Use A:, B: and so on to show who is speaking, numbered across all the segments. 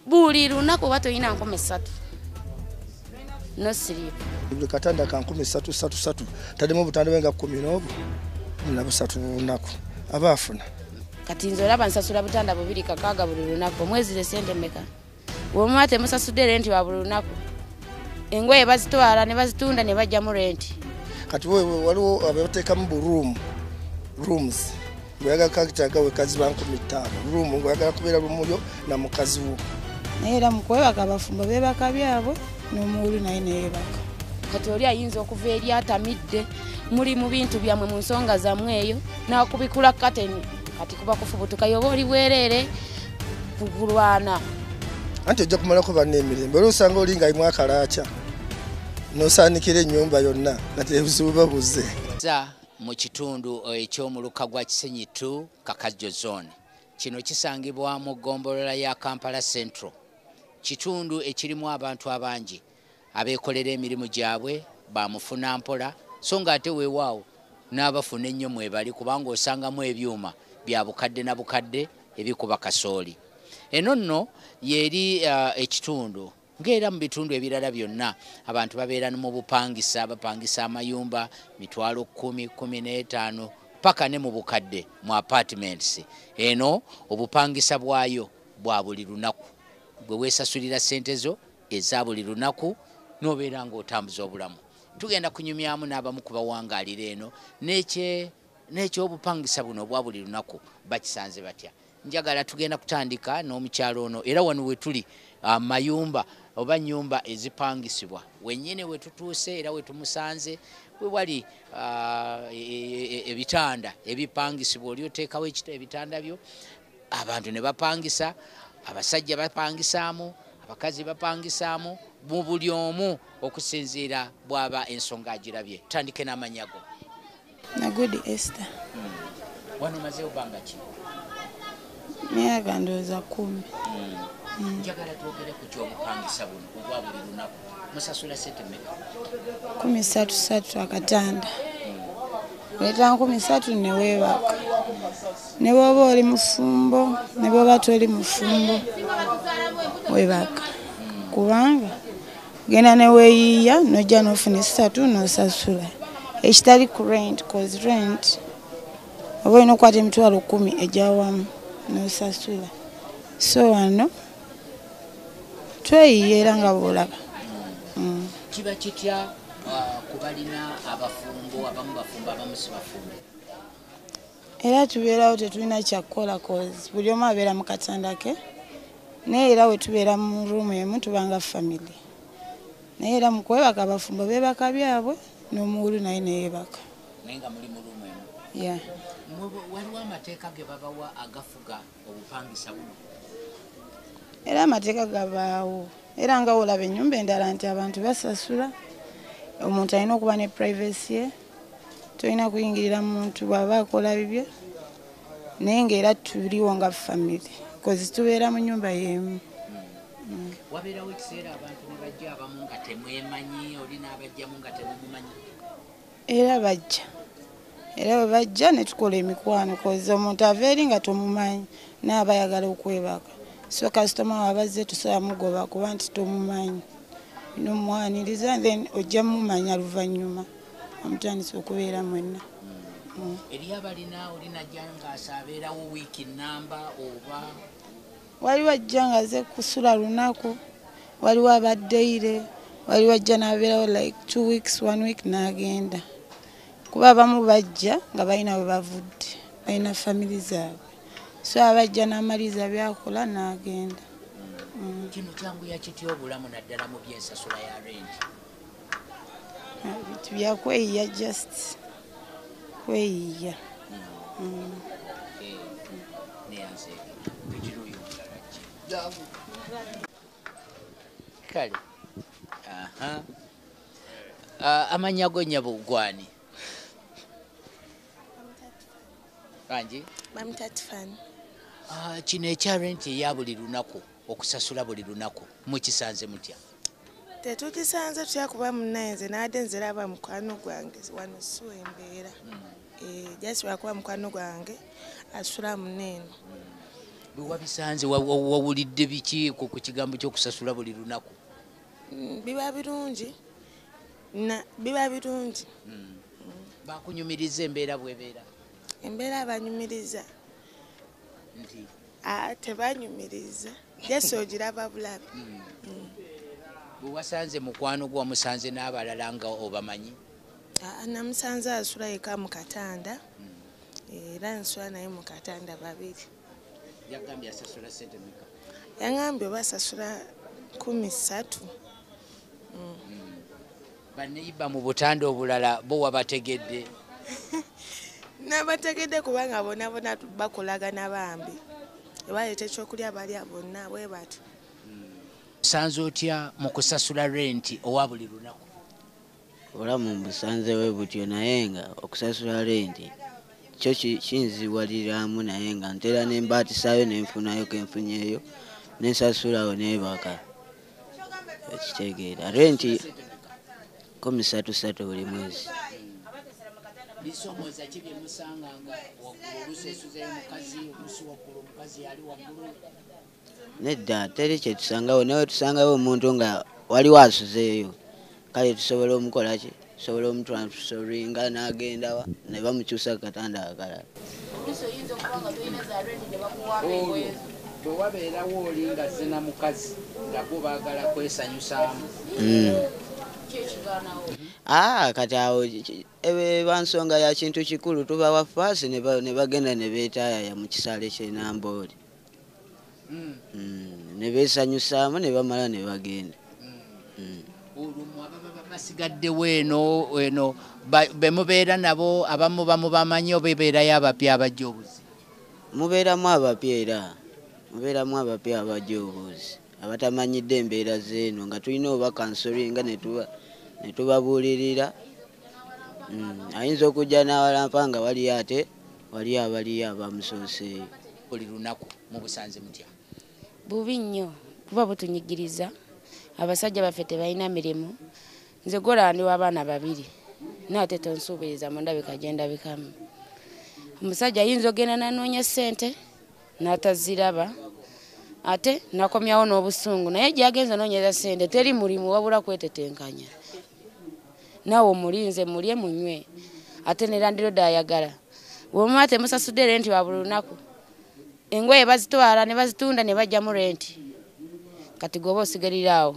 A: buli lunaku oba tolina nkumi ssatu nosiriipu buli katanda ka
B: nkumi ssatu ssatu ssatu tademu obutanda bwe nga kumi n'obu na busatu lunaku aba afuna kati nze
A: olaba nsasula butanda bubiri kakaaga buli lunaku omwezi ze sente meka wemuma temusasudde renti wa buli lunaku engoye bazitwala ne bazitunda ne bajja mu renti kati
B: waliwo abateekamu bu room rooms ngoyagala kakitaga wekazi bankumi ttaano room ngoyagala kubeera lumuyo na mukazi wo naye era mukwebaka
C: abafumbo bebaka byabwe nomuwulu naye neyebaka kati oli ayinza
A: okuva eri atamidde muli mu bintu byammwe mu nsonga zammwe eyo nakubikula kateni kati kuba kufubutuka yoba oli bwereere kukulwana
B: anti ojja kumalako banna emirembe olwo osanga oli nga imu akalaaca nosaanikira ennyumba yonna kati ebizibu babuze mu
D: kitundu eky'omuluka gwa kisenyi t kakajjo zone kino kisangibwa mu ggombolola ya kampala central kitundu ekirimu abantu abangi abeekolera emirimu gyabwe bamufuna mpola so nga ate weewaawo n'abafuna ennyo mwebali kubanga osangamu ebyuma bya bukadde na bukadde ebikuba kasooli eno nno yeeri uh, ekitundu ng'era mu bitundu ebirala byonna abantu babeera mu bupangisa bapangisa amayumba mitwalo kumi kumi n'etaano paka ne mu bukadde mu apartments eno obupangisa bwayo bwa buli lunaku gwe weesasulira ssente zo eza buli lunaku n'obeera ng'otambuza obulamu tugenda kunyumyamu n'abamu ku bawangaalira eno n'ekyobupangisa buno obwa buli lunaku bakisanze batya njagala tugenda kutandika n'omukyalo ono era wano wetuli ah, mayumba oba nyumba ezipangisibwa wenyini wetutuuse era wetumusanze wewali ah, e, e, e, ebitanda ebipangisibwa oli oteekawo ebitanda byo abantu ne bapangisa abasajja bapangisaamu abakazi bapangisaamu mu buli omu okusinziira bwaba ensonga agirabye tandike n'amanyago nagudi
C: ester hmm. wano
D: mazeewo banga ki
C: myaka ndowooza kumi hmm. Hmm.
D: njagala twogere ku kyobupangisa buno obwa buli lunaku musasula sente meka kumi satu
C: satu akatanda leta nkumi satu newebaka ne bwoba oli mufumbo ne bwoba toli mufumbo webaka kubanga genda neweyiiya nojja nofuna esatu nosasula ekitali ku rent cause rent oba olina okukwata emitwalo kumi ejawamu nosasula so wano tweyiye era nga bwolaba mm.
D: kiba kitya uh, kubalina abafumbo abamu bafumbo abamu sibafumbo
C: era tubeerawo tetulina kyakukola cause buli omu abeera mu katanda ke naye era wetubeera mu ruumu emu tubanga famiry naye era mukwebaka abafumbo bebaka byabwe nomuwulu naye neyebaka
D: waliwo amateeka ge babawa agafuga obupangisa buno
C: era amateeka gabaawo era nga olaba enyumba endala nti abantu basasula omuntu alina okuba ne privacy ye tolina kuyingirira muntu bwaba akola bibye naye ngaera tuliwo nga famiry kozi tubeera mu nyumba yemu hmm.
D: wabeerawo ekiseera abantu nebajja abamu nga temwemanyi oli n'abajjamu nga temumumanyi era
C: bajja era bwe bajja ne tukola emikwano koza omuntu ava eri nga tomumanyi naye aba ayagala okwebaka so kasitoma wabazze tusobola mugoba kuba nti tomumanyi nomwaniriza then ojja mumanya luvannyuma omutandisa okubeera mwenna mm. eriyo
D: abalina olinaja ngaasabeerawo wiiki namba oba waliwo
C: ajja nga aze kusula lunaku waliwo abaddeire waliwo ajja nabeerawo like two weeks one week n'agenda kuba abamu bajja nga balina we bavudde balina family zaabwe so abajja n'amaliza byakola n'agenda mm.
D: kino kyanguya kitya obulamu naddala mu byensasula ya rengi
C: ebintu byakweyiya just kweyiya mm.
D: kale ah, amanya go nyabo gwani kanji bamutatifani
E: ah,
D: kino ekyarenti eyabuli lunaku okusasula buli lunaku mukisanze mutya tetukisanze
E: tutya kuba munaye nze naade nziraba mukwano gwange wano siwa embeera eh, jasi lwakuba mukwano gwange asula muneeno
D: bwewabisanze wawulidde biki ku kigambo kyokusasula buli lunaku mm, biba
E: birungi biba birungi mm.
D: bakunyumiriza embeera bwebeera embeera
E: banyumiriza
D: Ah,
E: tebanyumiriza jesi ogiraba bulabi hmm. hmm.
D: bwewasanze mukwano gwe wamusanze n'abalala nga obamanyi ah, namusanze
E: asula yeka mu katanda hmm. era nsula naye mu katanda babiri yagambye
D: asasula sente meka yangambye oba
E: asasula kumi ssatu
D: Baneyiba mu butanda obulala bo wabategedde?
E: Nabategedde kubanga bona bona bakolagana bambi ebaleeta ekyokulya balya bonna bwe bati.
D: Osanze otya mu kusasula renti owa buli lunaku? Obulamu
F: mbusanze we butyo naye nga okusasula renti kyo kinziwaliramu naye nga ntera ne mbaatisayo ne nfunayo ke nfunyeyo ne nsasulawo neebaka. okitegeera renti kumi satu satu buli mwezi bisomoza
D: ki byemusanganga waggulu olusesuzayo mukazi olusi waggulu omukazi yali waggulu
F: nedda teri kyetusangawo nawe tusangawo omuntu nga waliwo asuzeeyo kale tusobola omukolaki tusobola omutransferinga nagendawa ne bamukyusa kukatanda akalala
D: bwewabeerawo oli nga zina mukazi nagwo bagala kwesanyusaamu hmm.
F: ah, kati awo eba nsonga ya kintu kikulu tubawa faasi ne bagenda ne beetayaya mu kisaale kyenambooli mm. mm. ne beesanyusaamu ne bamala ne bagenda mm.
D: olwo basigaddewo eno eno be mubeera nabo abamu bamubamanyi oba ebeerayo abapya abajja obuzi mubeeramu
F: abapya era mubeeramu abapya abajja obuzi abatamanyidde embeera zeeno nga tulina oba kansoringa netubabuulirira mm, ayinza okujja n'awalampa nga waliyo ate waliyo abaliyo abamusooseeyo buli lunaku
D: mubusanze mutya bubi
A: nnyo kuba butunyigiriza abasajja baffe tebalina mirimu nze golandi w'abaana babiri naate tonsuubiriza mu ndabika gye ndabikamu omusajja ayinza ogenda nanoonya ssente n'ataziraba ate nakomyawo n'obusungu naye gyagenza noonyeza ssente teri mulimu wabula kwetetenkanya naawe omulinze mulye munywe ate nerandiroda ayagala Bwemuba temusasudde renti wa buli lunaku engoye bazitwala ne bazitunda ne bajjamu renti kati gwoba osigalira awo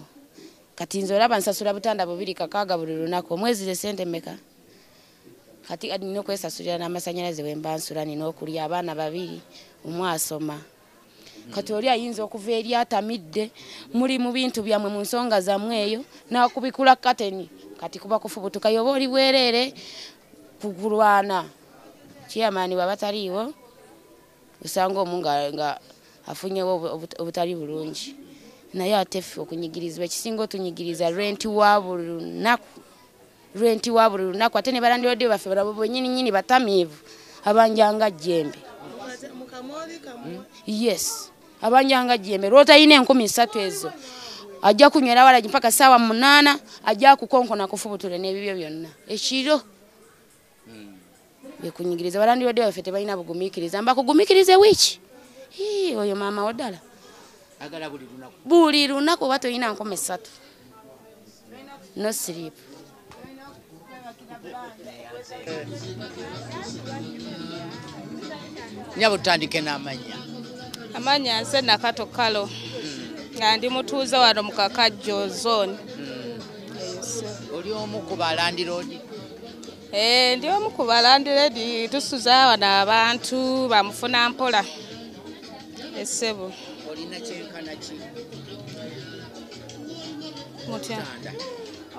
A: kati nze olaba nsasula butanda bubiri kakaaga buli lunaku omwezi ze sente meka kati nina okwesasulira n'amasanyalaze wemba nsula nina okulya abaana babiri omu asoma kati oli ayinza okuva eri atamidde muli mu bintu byammwe mu nsonga zammwe eyo n'akubikula kateni kati kuba kufubutuka yoba oli bwereere ku kulwana kiyamaani baba taliiwo osanga omu nga afunyewo obutali bulungi naye ate ffe okunyigirizibwa ekisinga otunyigiriza lwenti wa buli lunaku renti wa buli lunaku ate ne balandiroodi baffe balabo bwenyini nyini batamiivu abanjanga jjembe yes abanjanga jjembe lwotalina enkumi ssatu ezo ajja kunywera walagi mpaka saawa munaana ajja kukonkona kufubutule n'ebibyo byonna ekiro bekunyigiriza balandirodde baffe tebalina bugumikiriza mbakugumikirize wiiki oyo maama wo ddala
D: buli
A: lunaku oba tolina nkoma essatu no sleep
D: nyabo tutandike n'amanya amanya
G: nze nakato kalo hmm. nga ndi mutuuze wano mu kakajjo zone
D: hmm. oli omu ku balandiroodi Eh,
G: ndi omu ku balandiredi tusuza wano abantu bamufuna mpola essebo mutya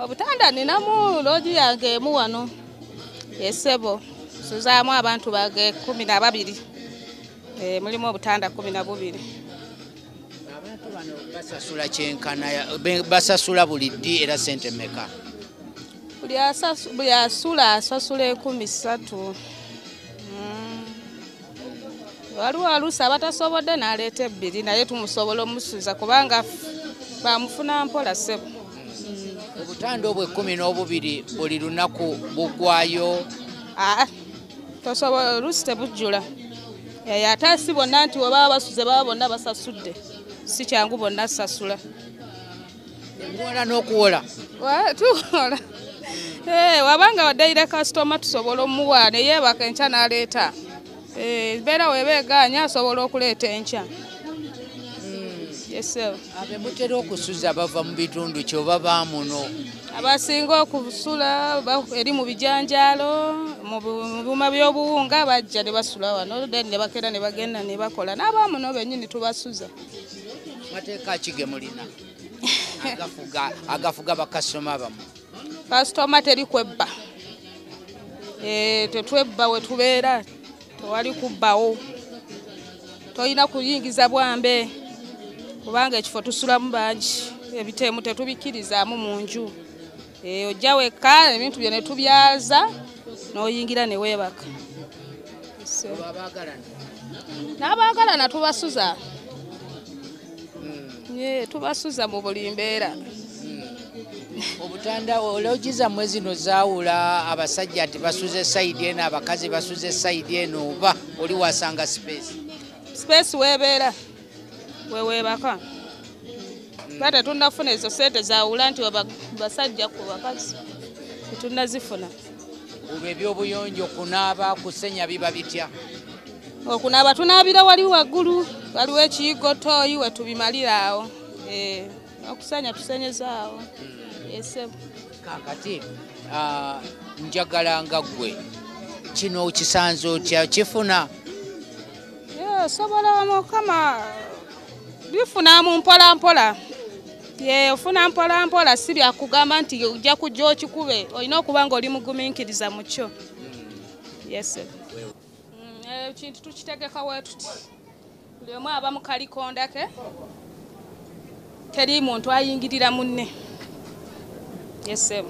G: obutanda ninamu loogi yange emu wano essebo nsuzaamu abantu bage kumi na babiri eh, mulimu obutanda kumi na bubiri
D: basasula kyenkana basasula buli ddi era sente meka
G: buli asula asasula ekumi satu hmm. waliwo aluusi abatasobodde naleeta ebbiri naye tumusobola omusuza kubanga bamufuna mpola sebo hmm. obutanda
D: obwo ekumi n'obubiri buli lunaku bugwayo ah,
G: tosobola
D: oluusi tebujjula
G: eh, ate asi bonna nti webaba basuze baba bonna basasudde si kyangu bonna sasula
D: Muwola n'okuwola. Wa tuwola.
G: Eh, wabanga wadayira kasitoma tusobola omuwa ne yeebaka enkya n'aleeta. Eh, embeera weeba egaanya asobola okuleeta enkya. Hmm.
D: abemutera okusuza bava mu bitundu kyoba baamuno abasinga
G: okusula eri mu bijanjaalo mu byuma by'obuwunga bajja ne basula wano then ne bakeera ne bagenda ne bakola n'abaamuno bennyini tubasuza mateeka
D: ki ge mulina agafuga bakasitoma bamu kasitoma
G: teri kwebba eh, tetwebba we tubeera tewali kubbawo tolina kuyingiza bwambe kubanga ekifo tusulamu bangi ebiteemu tetubikkirizaamu mu nju Eh, ojja wekka ebintu byo netubyaza noyingira newebaka n'abaagalana tubasuza hmm. tubasuza mu buli mbeera hmm. obutanda
D: ologi zammwe zino zaawula abasajja nti basuza esayidi eno abakazi basuza esayidi eno oba oli wasanga sipeesi sipeesi weebeera
G: weweebaka hmm. ba tetunda kufuna ezo sente zawula nti basajja ku bakazi tetunda zifuna
D: olwo ebyobuyonjo okunaaba kusenya biba bitya okunaaba
G: tunaabira wali waggulu waliwo ekiyigo tooyi wetubimalira awo eh, okusenya tusenyezaawo hmm. esebo
D: kakati ah, njagala nga ggwe kino okisanze otya kifuna osobola
G: mukama bifuna mu mpolampola ofuna mpolampola si byakugamba nti ojja kujja okikube olina okuba nga oli mugumiikiriza mu kyo yes mm, ekintu eh, tukitegeka wetuti buli omu aba mukalikondake Teri muntu ayingirira munne. Yes, sir.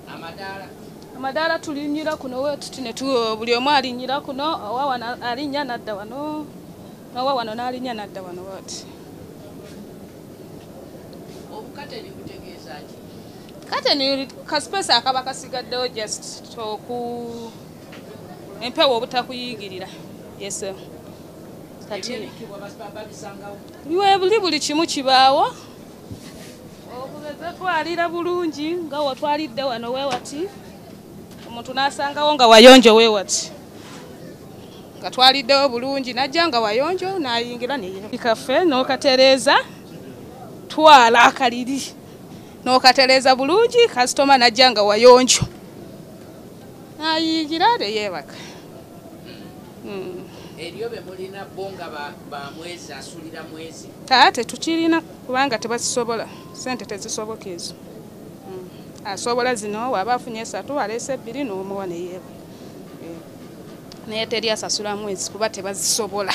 G: Amadaala. Amadaala tulinyira kuno wetuti ne buli omu alinyira kuno owa wano alinya nadda wano n'owa wano n'alinya nadda wano wati. Obukateni butegeeza ki? Kateni kasipesi akaba kasigaddewo just oku empewo obutakuyingirira. Yes, sir. Kati. webuli buli kimu kibaawo okugeza twalira bulungi nga watwalidde wano wewati omuntu nasangawo nga wayonjo wewati nga twaliddewo bulungi najja nga wayonjo nayingira neyekaffe nokatereeza twala akaliri nokatereeza bulungi kasitoma najja nga wayonjo nayingira neyebaka hmm.
D: eriyo bemulina bo nga bamwezi asulira mwezi aa tetukirina
G: kubanga tebazisobola sente tezisoboka ezo hmm. asobola zino waba afunye esatu aleese ebbiri nomuwa neyeeba eh. naye teri asasula mwezi kuba tebazisobola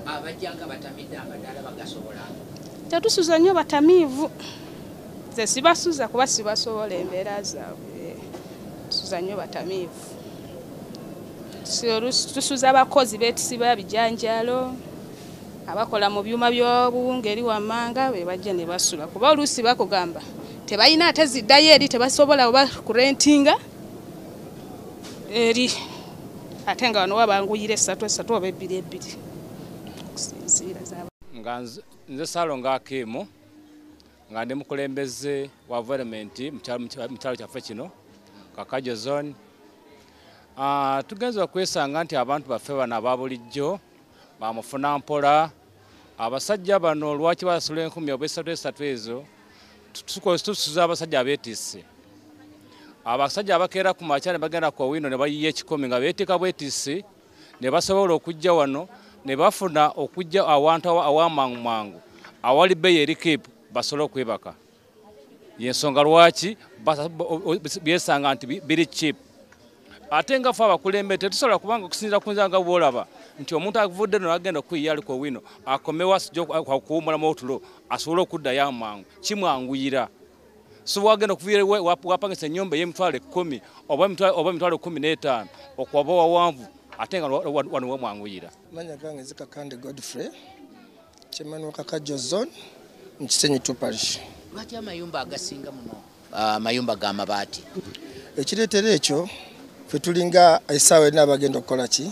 D: abajanga batamidde amadaala bagasobola tetusuza
G: nnyo batamiivu ze sibasuza kuba sibasobola embeera zaabwe tusuza nnyo batamiivu tusuza abakozi betusiba bijanjalo abakola mu byuma by'obuwunga eri wammanga be bajja ne basula kuba oluusi bakugamba tebalina ate ziddayo eri tebasobola oba kurentinga eri ate nga wano wabanguyira esatu esatu oba ebbiri ebbiri okusinziira nga
H: nze salonga akiimu nga ndi mukulembeze wa valementi mu kyalo kyaffe kino kakajo zone ah, tugenza okwesanga nti abantu baffe bano aba bulijjo bamufuna mpola abasajja bano lwaki basula enkumi oba esatu esatu ezo tusuza abasajja abetise abasajja abakeera ku makya ne bagenda ku owino ne bayiya ekikumi nga beeteeka bwetisi ne basobola okujja wano ne bafuna okujja awantu awamangu mangu awali bbeeyi eri kipu basobole okwebaka yensonga lwaki byesanga nti biri chip ate nga fe abakulembere tetusobola kubanga okusinzira kunza nga bwolaba nti omuntu avudde no agenda okuyiya aliko wino akomewo asija okuwumulamu otulo asobole okuddayo amangu kimwanguyira so wagenda okuvira wapangisa enyumba eyemitwalo ekumi oba emitwalo ekumi n'etaano okwaba wawanvu ate nga wano wamwanguyira manya gange
B: zikakande godfrey chairman wa kakajo zone mu kisenyi two parish lwaki amayumba
D: agasinga muno amayumba ah, ga mabaati ekireetera
B: ekyo fe tulinga esaawa erina abagenda okukola ki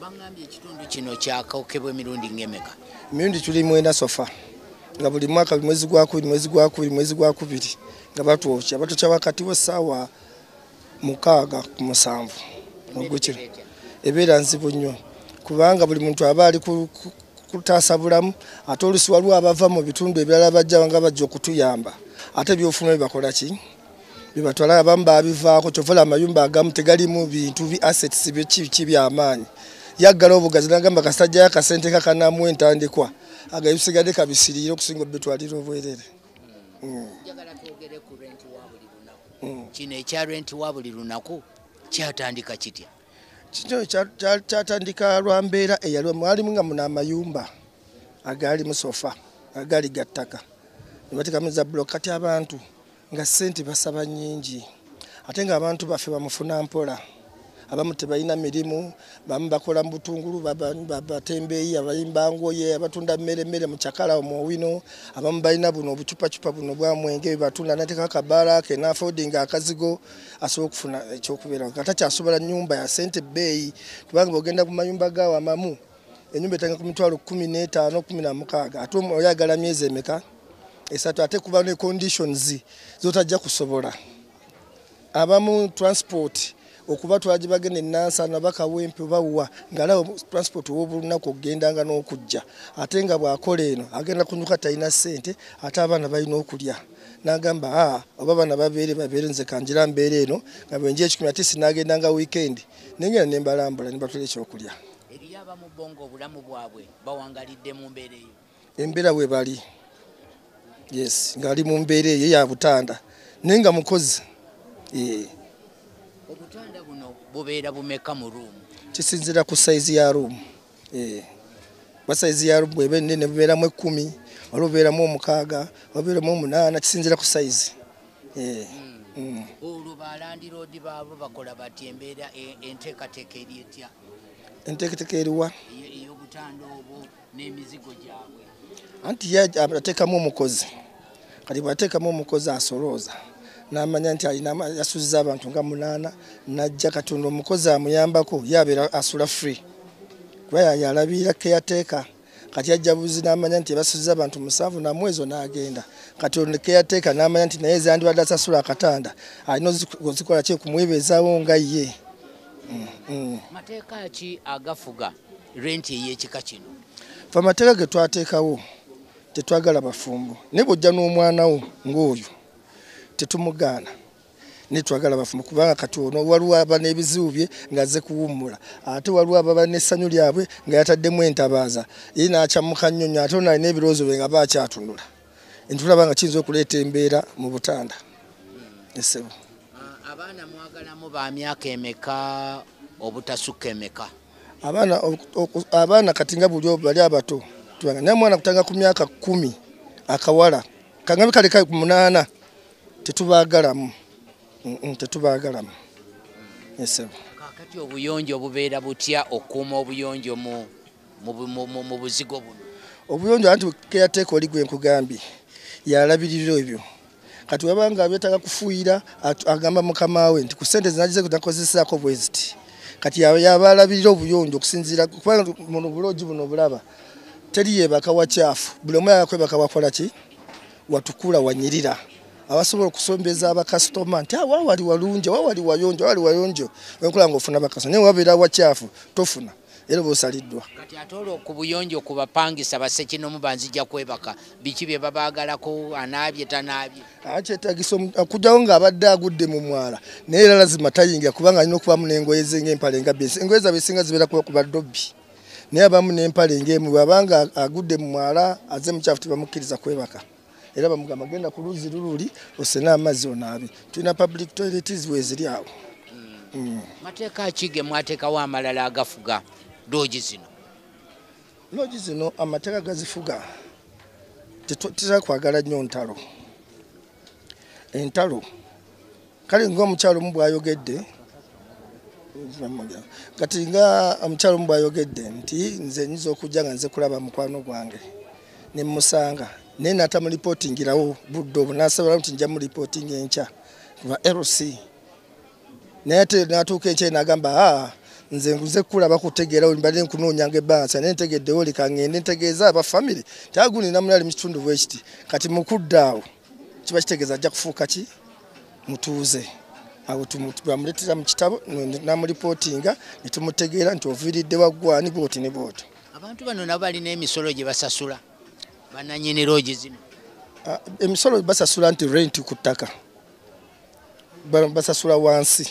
D: bangambye ekitundu kino kyakokebwa emirundi ngemeka emirundi tuli mwenda
B: sofa nga buli mwaka mwezi gwakubiri mwezi gwakubiri mwezi gwakubiri nga batwokya batokya wakati wesaawa mukaaga ku musanvu ogukira ebeera nzibu nnyo kubanga buli muntu aba ali kutaasa bulamu ate olusi waliwo abava mu bitundu ebirala bajja nga bajja okutuyamba ate byofuna bibakola ki bibatwala abamu babivaako kyovola amayumba agamu tegalimu bintu bi assets byekiki byamaanyi yaggala obugazi nagamba kasajja yakasente kakanamu entandikwa agabisigade kabisiriire okusinga obitwalira obwerere hmm.
D: hmm. kino ekya renti wa buli lunaku kyatandika kitya kino
B: kyatandika lwa mbeera eyaliwo mwalimu nga muna amayumba agaali musofa agaali gattaka nebatekamu za bulo kati abantu nga sente basaba nyingi ate nga abantu baffe bamufuna mpola abamu tebalina mirimu bamu bakola mu butungulu batembeeyi abayimba ngoye abatunda mmere mmere mu cakala omuowino abamu balina buno obucupacupa buno bwamwenge bebatunda nateka akabaala ke nafodinga akazigo asobola okufuna ekyokubeera nga takyasobola nyumba ya sente bbeeyi kubanga ogenda ku mayumba gaawo amamu enyumba etanga ku mitwalo kumi n'etaano kumi na mukaaga ate oyagala myezi emeka esatu ate kuba ne conditions zotajja kusobola abamu transport okuba twagibagenda enansana bakawempe bawuwa ngaalaba transport wobulunaku okugendanga n'okujja ate nga bwakola eno agenda kunyuka talina ssente ate abaana balina okulya nagamba a ah, oba abaana babeere babeere nze kanjira mbeera eno nga bwenja ekikumi ate sinagendanga weekend nengenda nembalambula nebatula ekyokulya Eriyo abamu bo
D: ng'obulamu bwabwe bawangalidde mu mbeera eyo? Embeera bwe bali
B: yes ng'ali mu mbeera eyo ya butanda naye nga mukozi eh.
D: obutanda buno bubeera bumeka mu ruumu? Kisinzira ku sayizi
B: ya ruumu eh. ba sayizi ya ruumu bweba ennene bubeeramu ekkumi waliwo bubeeramu omukaaga wabeeramu omunaana kisinzira ku sayizi eh. hmm.
D: olwo balandiroodi baabo bakola batya embeera e, enteekateeka eri etya enteeketeka
B: eriwa ey'obutanda
D: obwo n'emizigo gyabwe anti ye
B: ateekamu omukozi kati bw'ateekamu omukozi asolooza n'amanya nti alina yasuziza abantu nga munaana n'ajja katonda omukozi amuyambako ye abeera asula free kuba yalabirira keyateeka kati ajja buzi n'amanya nti ebasuziza abantu musanvu namu ezo n'agenda kati onekeyateeka n'amanya nti naye ezandibadde asasula akatanda alina ozikola ki okumwebeezawo nga ye mm, mm. mateeka
D: ki agafuga renti ey'ekika kino fe amateeka
B: ge twateekawo tetwagala bafumbo naye bw'ojja n'omwana wo ng'oyo tetumugaana ne twagala bafumu kubanga kati ono waliwo aba n'ebizibu bye ng'azze kuwummula ate waliwo ababa n'essanyu lyabwe nga yataddemu entabaaza ye n'akyamuka nnyo nnyo ate ono alina ebirowoozo bye nga ba akyatunula entulaba nga kiyinza okuleeta embeera mu butanda esebo ah, abaana
D: mwagalamu ba myaka emeka obutasukka emeka abaana
B: abaana kati nga buli bali abato tubanga naye omwana kutanga ku myaka kkumi akawala kangabe kale kale ku munaana tetubaagalamu tetubaagalamu esebo kakati
D: obuyonjo obubeera butya okukuuma obuyonjo mu buzigo buno obuyonjo anti
B: keyateeka oli gwe nkugambye yalabirira ebyo kati wabanga abyetaga kufuuyira agamba mukama we nti ku sente zinagize kunakozesaako bweziti kati yaba alabirira obuyonjo okusinziira kubanga muno buloogi buno obulaba teri yebaka wakyafu buli omu yagakwebaka wakola ki watukula wanyirira abasobola okusombeza abakasitoma nti awa ah, wali walungi awa wali wayonjo wali wayonjo enkola nga ofuna bakasitoma naye wabeera wakyafu tofuna era oba osaliddwa kati ate olwo ku
D: buyonjo ku bapangisa basekinomu banzija kwebaka biki bye babaagalako anaabye tanaabye akyetagisa ah,
B: okujjawo ah, ng'abadde agudde mu mwala naye era lazima tayingira kubanga alina okubaamu n'engoye ze ng'empale nga byensi engoye zabe esinga zibeera kuba kuba dobbi naye abamu n'empale ng'emu bw'aba nga agudde mu mwala aze mukyafu tebamukkiriza kwebaka era bamugamba genda ku luzzi lululi osena amazzi onaabi tulina public toiletis weeziri awo hmm. Hmm.
D: mateeka ki ge mwateekawo amalala agafuga loogi zino
B: loogi zino amateeka gazifuga tetera kwagala nnyo ntalo entalo kale ng'omukyalo omu bw'ayogedde kati nga omukyalo omu bw'ayogedde nti nze nyinza okujja nga nze kulaba mukwano gwange ne mmusanga naye nata mu lipootingirawo budde obwo nasobola nti nja mu lipootinga enkya lwa lc naye ate natuuka enkya nagamba a ah, nze nze kulaba kutegeerawo mbadde nkunoonyanga ebbansa naye ntegeddewo leka ngende ntegeeza aba famiry nti aguninamunali mu kitundu bwekiti kati mu kuddaawo kiba kitegeeza ajja kufuuka ki mutuuze abo bamuleetera mu kitabo namulipootinga ne tumutegeera nti oviiridde waggwani booti ne booti abantu bano nabo balina
D: emisolo gye basasula bananyini loogi zino ah, emisolo
B: basasula nti renti ku ttaka basasula wansi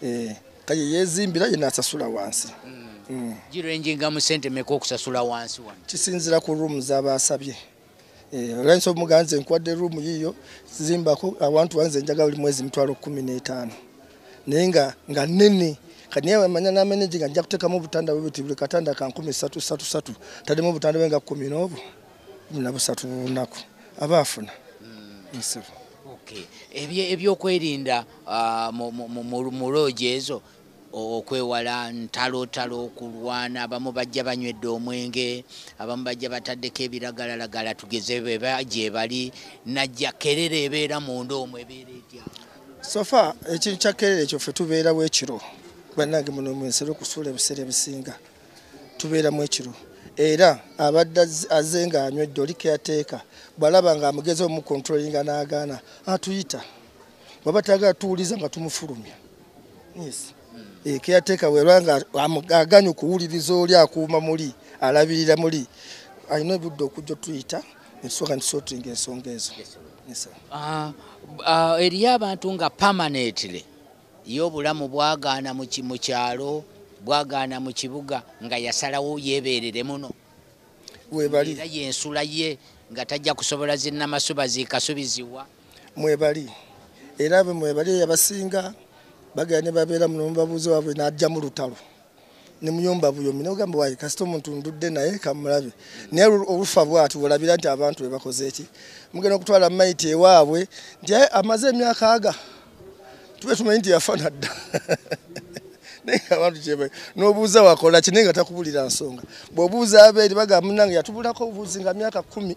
B: eh, kaye yezimbira yena asasula wansi hmm. Hmm. girenjinga
D: mu sente meka okusasula wansi kisinzira ku room
B: zabasabye Eh, olwensonga muganze nkuwadde room yiyo zimbako awantu wanze njaga buli mwezi mitwalo kumi n'etaano naye nga nga nene kati naye amanya nameneji nga nja kuteekamu obutanda bwe buti buli katanda ka nkumi satu satu satu taddemu obutanda bwe nga kumi n'obu kumi na busatu bunaku aba afuna hmm. nsibu
D: ebyokwerinda ah, mu loogi ezo okwewala ntalotalo okulwana abamu bajja banywedde omwenge abamu bajja bataddeko ebiragalalagala tugeze beba gyebali najja kerere ebeera munda omwo ebeera etya sofa
B: ekintu kya kerere ekyo ffe tubeerawo ekiro bannange muno mwensere okusuula ebiseera ebisinga tubeeramu ekiro era abadde aze nga anywedde oli keyateeka bwalaba nga amugezi omukontrolinga n'agaana atuyita bwaba tagala tuwuliza nga tumufulumya Yes. Eh, caretaker weba nga aganyu kuwuliriza oli akuuma muli alabirira muli alina ebudde okujja otuyita netusoka ntusotinga ensonga ezo ah, ah,
D: eriyo abantu nga permanently ye obulamu bwagaana mu kyalo bwagaana mu kibuga nga yasalawo yebeerere muno webali
B: yensula
D: ye nga tajja kusobola zinnamasuba zikasubiziwa mwebali
B: era be mwebali eyabasinga bagenda ne babeera muno mubabuuzi waabwe n'ajjamu lutalo ne muyumba buyomi nogamba waye kasita omuntu ndudde naye kamulabe naye olufa bwati olabira nti abantu bebakoze eki mugenda okutwala maiti ewaabwe nti amaze emyaka aga tube tumanyi nti yafa nadda naye abantu kyeba n'obuuza wakola kine nga takubulira nsonga bw'obuuza abeeri bagamba munange yatubulako obuuzi nga myaka kumi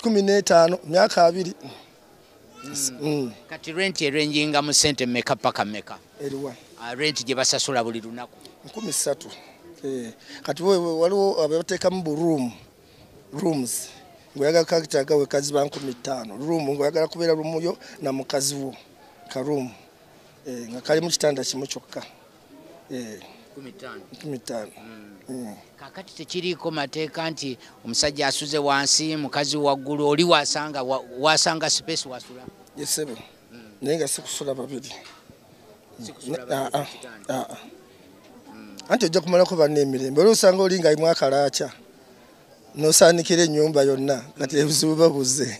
B: kumi n'etaano myaka abiri hmm. Hmm.
D: kati renti erenjinga mu sente meka paka meka eriwa ah,
B: renti gye
D: basasula buli lunaku nkumi ssatu
B: eh, kati waliwo abateekamu bu room rooms ngoyagala kakitaaga wekazi ba nkumi ttaano room ngoyagala kubeera rumuyo na mukazi wo ka room eh, nga kalimu kitanda kimu kyokka eh, kumi ttaano mm. mm.
D: kakati tekiriiko mateeka nti omusajja asuze wansi mukazi waggulu oli wasanga wasanga space wasula yesebe mm.
B: naye nga sikusula babiri ah, ah, ah, anti ojja kumalako banna emirembe olwo osanga oli nga imu akalaaca nosaanikira ennyumba yonna kati ebizibu babuze